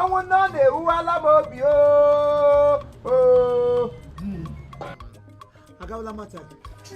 ọnwụ nne ọ na-ewuwala m obi oo oo. agawala mata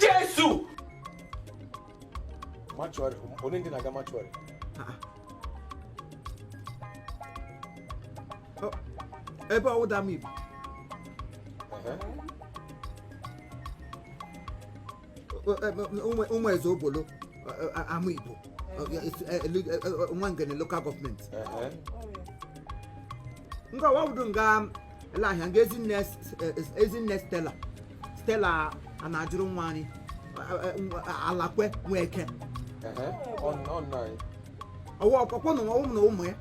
jesu mortuary onye ndị na-aga mortuary ebe ọwụda m ibu ụmụ eze obolo Amaigbo Nwangele local government nga wawudu nga lahia nga ezinne ezinne stella stella a na-ajụrụ nwaanyị alakwe nwa eke ọwa ọkpọkpọ na ụmụ na ụmụ ya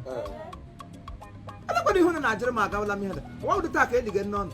alakwe na ihu na na-ajụrụ m agawala m ihe da wawudu taa ka elige nne ọnụ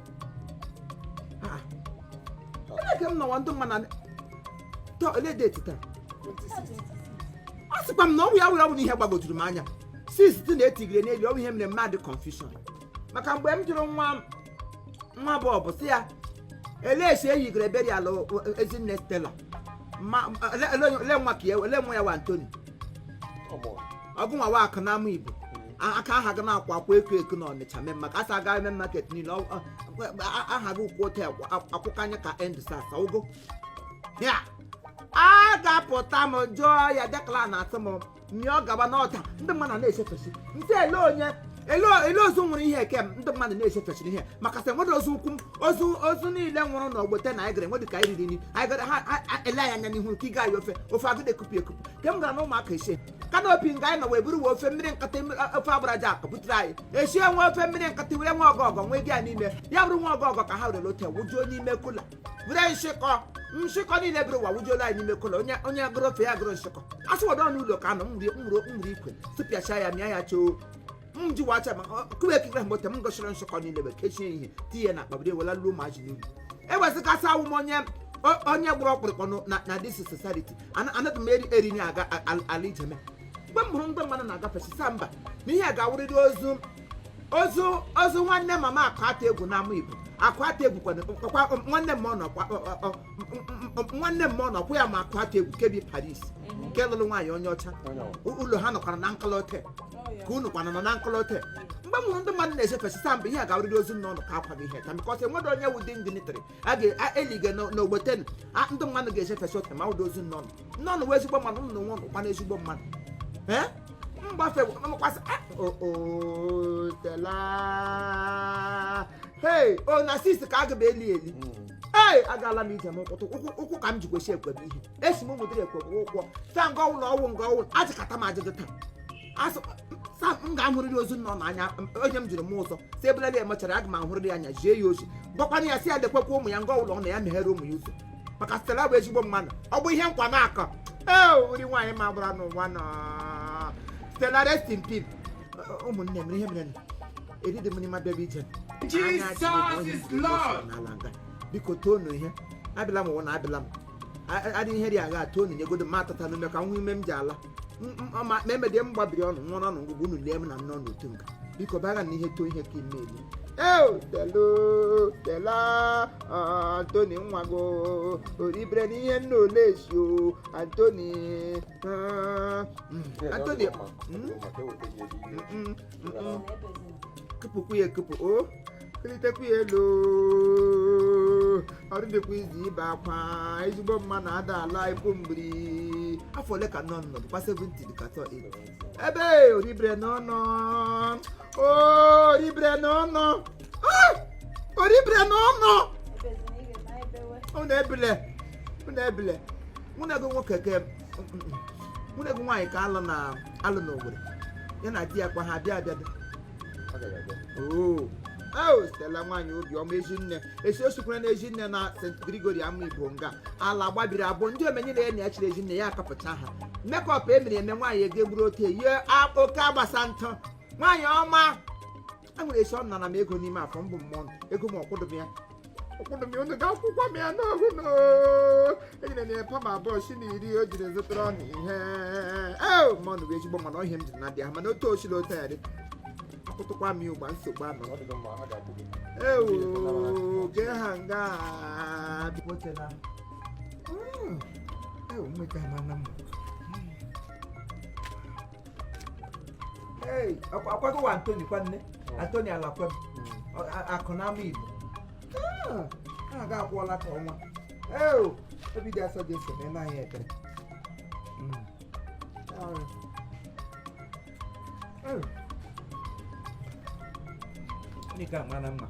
Ah. Onye ka m nọwa ndị mma na taa ole date taa a sịkwa m na ọnwụ ya were ọnwụ na ihe gbagojuru m anya sis dị na etigire n'elu ọnwụ ihe mere mmadụ confusion maka mgbe m jụrụ nwa m- nwa bọbọ sị ya elee si eyigoro burial o- o- ezinne Stella Ma- ele- ele onye- ele nwa ka ya ele nwa ya wa antoni ọgụ nwa wa akụ n'Amaigbo aka aha gị na-akwa akwa eko eko na ọnịcha main market Asaba main market niile ọ- ọ- a- aha gị kwụ otu akwa- akwụkwọ anya ka End SARS ụgụ ya a ga-apụta m jụọ ya Declan atụ m mịọ gaba n'ọta ndị mmadụ na-echefesi ntị ele onye ele ele ozu nwere ihe eke m ndị mmadụ na-echefesiri ihe maka sị enwere ozu ukwu m ozu ozu niile nwụrụ n'ogbote na anyị gara enwedị ka anyị riri nri anyị gara ha ha- ha- ele anyị anya n'ihu nke ị gaghị ofe ofe agụdị ekupụ ekupụ ke m gara na ụmụaka ise canopy nga anyị nọ wee buru wee ofe mmiri nkata ofe agbaraja akụ butere anyị esi enwe ofe mmiri nkata were nwa ọgọgọ nwee gị ya n'ime ya bụrụ nwa ọgọgọ ka ha were ote wujuo n'ime cooler were nshịkọ nshịkọ niile bụrụ ụwa wujuola anyị n'ime cooler onye onye gụrụ ofe ya gụrụ nshịkọ asị wọdọ n'ụlọ ka anọ mmiri mmiri ikwe tụpịacha ya mịa ya choo m ji wacha ma kube ekikere mgbe ote m gụsịrị nshịkọ niile wee kechie ihe tinye na akpa bido wela luo ma ji n'ubi ewezuga sị a wụ m onye o- onye gburu ọkpụrụkpụ ọnụ na- na this society Ana- anaghị m eri eri na aga a- a- ala ijeme mgbe m hụrụ ndị mmadụ na-agafe sị a mba na ihe a ga-awụrịrị ozu ozu ozu nwanne mama akụ ata egwu n'Amaigbo akụ ata egwu kwana kpakwa nwanne m ọ nọ kwa- ọ- ọ- ọ- nwanne m ọ nọkwa ya ma akụ ata egwu KB Paris nke lụrụ nwaanyị onye ọcha ụlọ ha nọkwara na nkọla hotel ka unu kwana nọ na nkọla hotel mgbe m hụrụ ndị mmadụ na-ejefe sị a mba ihe a ga-awụrịrị ozu nna ụlọ ka akwaghị ihe ka because enwere onye wụ dị dignitary a ga-eliga n'ogbeten ndị mmadụ ga-eje fesi hotel ma ụdị ozu nna ụlọ nna ụlọ wee ezigbo mmadụ ụlọ nwa ụlọkwa na ezigbo mmadụ ee mgbafe mkwasị o Stella hei o na sis ka a ga m eli eli ee agaala m ije n'ụtụtụ ụkwụ ụkwụ ka m ji kwesị ekwebe ihe esi m ụmụdịrị ekwebe ụkwụ taa nga ọnwụ na ọnwụ nga ọnwụ ajụkata m ajụjụ taa asị sa m ga-ahụrịrị ozu nọ n'anya m- onye m jụrụ m ụzọ si ebelele ya mechara aga m ahụrịrị ya anya zie ya ozi gwakwana ya sị ya dekwekwa ụmụ ya nga ọnwụ na ọ na ya meghere ụmụ ya ụzọ maka stela bụ ezigbo mmadụ ọ bụ ihe nkwa na-akọ ee ori nwaanyị ma gbara n'ụwa na stela rest in peace ụmụnne m ihe mere na eridi m nri ma bịaba ije Jesus is Lord. n'ala nga biko toni ihe abịala m ụwa na abịala m adị ihe dị agha toni nyegodo m atata n'ume ka m hụ ihe m ji ala M- m- ma ma emedie m gbabiri ọnụ nwụọ n'ọnụ ngụgụ unu lie m na nne unu otu nga biko baga na ihe toni ihe ka ime elu eo stela stela antoni nwa gị o, oribere n'ihe nna ole esi o antoni ah, mm, antoni mm, mm, kụpụkwu ya ekụpụ o kulitekwu ya elu ọrụ dịkwa izu ibe akwa ezigbo mma na-ada ala ikwu mgbiri afọ ole ka nọ nọ dịkwa 70 dịka asatọ ebe oribere n'ọnụ oribere n'ọnụ oribere n'ọnụ unu ebile unu ebile nwanne gị nwoke ke nwanne gị nwaanyị ka alụ na alụ n'owere ya na di ya kwa ha bịa abịa dị Ọ gara aga. oo o stela nwaanyị obiọma ezinne esi osikwara na ezinne na st grigori amaigbo nga ala gbabiri abụọ ndị omenye na enyi ya chiri ezinne ya akapụcha ha makeup e mere eme nwaanyị ege gburu ote yie a- oke agbasa ntụ nwaanyị ọma a nwere esi ọ nara m ego n'ime afọ mbụ mmụọ m, ego m ọ kwụdụ m ya ọ kwụdụ m ya unu ga-akwụkwa m ya n'ohu no enyere m ya pam abụọ shịnị iri o jiri zụtara ọnụ ihe ee ma ọnụ bụ ezigbo mana ọhịa m jiri na dị ha mana otu osiri otu ya dị akwụtụkwa m ya ugbua nsogbu anọ Ọ dị gị mma, ha ga-akwụ gị. ewu gee ha nga bipotela ewu mmeta amana m akwago wa Antoni kwanne oh. Antoni Alakwem oh, akụ na Amaigbo ah, a ga-akwụọla ka ọnwa obi dị asọ dị ese na ịnaghị ekpere hmm. Nika mara mma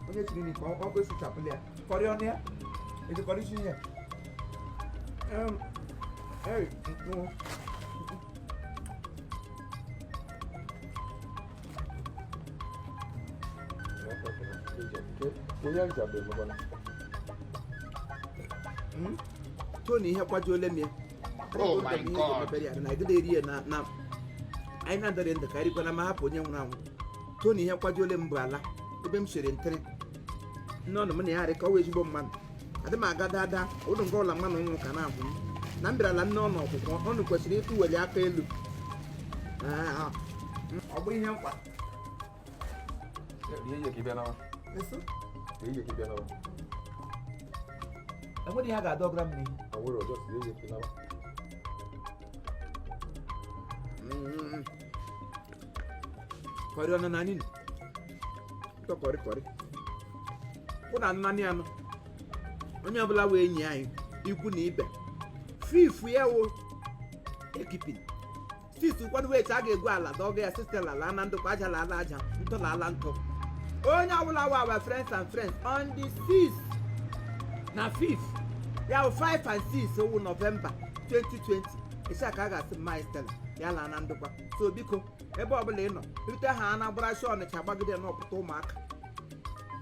onye chiri nika ọ kwesịchapụla ya kọrịọ na ya ejikọrọ isi ihe Hmm? Tony ihe kwajuole m ya oh eri na na anyị na-adọrị ndụ ka erikwana ma hapụ onye nwụrụ anwụ Tony ihe kwajuole m bụ ala ebe m siri ntịrị nne unu m na ya harị ka ọ wụ ezigbo mmadụ adị m aga dada ụlọ nke ụlọ mmanụ nwa ka na-abụ m na m bịarala nne unu ọkwụkwa unu kwesịrị ịtụ weli aka elu Ah, ọ bụ ihe nkwa Ihe yie ka ị bịa nawa. eso Ihe yie ka ị bịa nawa. enweghị ihe a ga-adọgara m n'ihu Awụrụ ọjọọ si ihe yie ka ị nawa. Mm. kọrị ọnụ na nini kọrịkọrị kwụ na nnanị anọ onye ọbụla wụ enyi anyị ikwu na ibe fifth ya wụ wake-keeping sixth kwanụ wụ a ga-egwu ala dọga ya Stella laa na ndokwa aja lala aja ntụ lala ntụ onye ọbụla wụ our friends and friends on the 6 na 5 ya wụ 5 and 6 wụ November 2020 sixth ka a ga-asị mma Stella ya laa na ndokwa so biko ebe ọbụla ị nọ rute ha na gbara shi Ọnịcha gbagide na-apụta Ụmụaka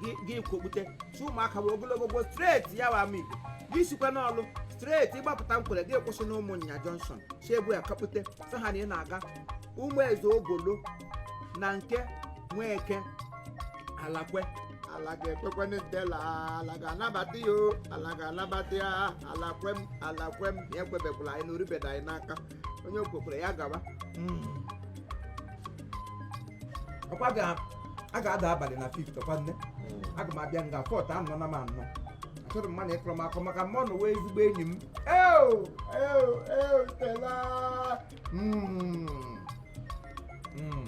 gị- gị kwokpute si Ụmụaka were ogologo go straight ya wụ Amaigbo gị sikwa n'Ọlụ straight ị gbapụta Nkwerre gị kwụsị na Ụmụnnya Junction si ebu ya kapute sị ha na ị na-aga Ụmụ Eze Ogolo na nke Nweke Alakwe ala ga-ekwekwa na Stella ala ga-anabata ya o, ala ga-anabata ya ala kwem ala kwem ya ekwebekwala anyị na oribeda anyị n'aka onye okwekwere ya gaba nkwa a ga-ada abalị na fifth ọkwa nne aga m abịa nga fourth anọ na m anọ achọrọ m mmadụ ịkọrọ m akọ maka mma unu wụ ezigbo enyi m eo eo eo Stella Mm. Mm.